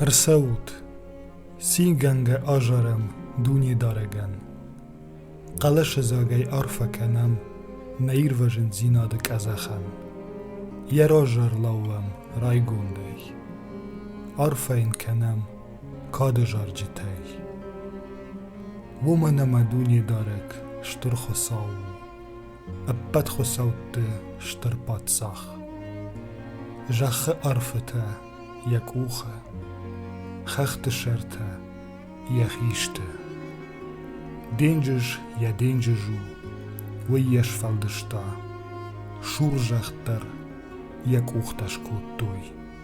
Ӕрцӕут, цигӕнгӕ азарӕм дунедарӕгӕн. Хъӕлӕсыдзагӕй арфӕ кӕнӕм нӕ ирвӕзындзинады къӕдзӕхӕн. Йӕ разар лӕууӕм райгондӕй. Арфӕ йын кӕнӕм кады зарджытӕй. уомӕн ӕма Дунедарӕг Стур Хуцау у, ӕппӕт хуыцӕутты стыр паддзах. Зӕххы ӕрфытӕ йӕ къухы, хӕхты сӕртӕ йӕ хисты. Денджыз йӕ денджыз у, уый йӕ сфӕлдыста. Сурзӕхх дӕр йӕ къухтӕ скодтой.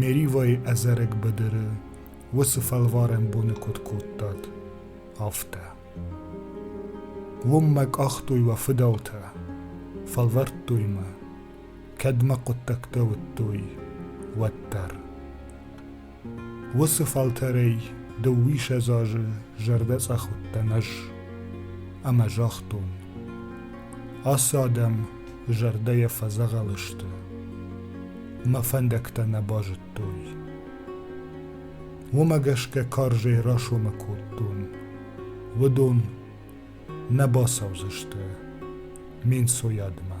Меривайы ӕдзӕрӕг быдыры уыцы фӕлварӕн боны куыд кодтат, афтӕ. Уым мӕ къахтой уӕ фыдӕлтӕ, фӕлвӕрдтой мӕ, кӕд мӕ хъуыддӕгтӕ уыдтой, уӕддӕр. уыцы фӕлтӕрӕй дыууиссӕдз азы зӕрдӕцъӕх уыдтӕн ӕз ӕмӕ загътон ацы адӕм зӕрдӕйӕ фӕдзӕгъӕл сты мӕ фӕндӕгтӕ нӕ базыдтой уымӕ гӕсгӕ карзӕй расомы кодтон уыдон нӕ бацӕудзысты ме нцойадмӕ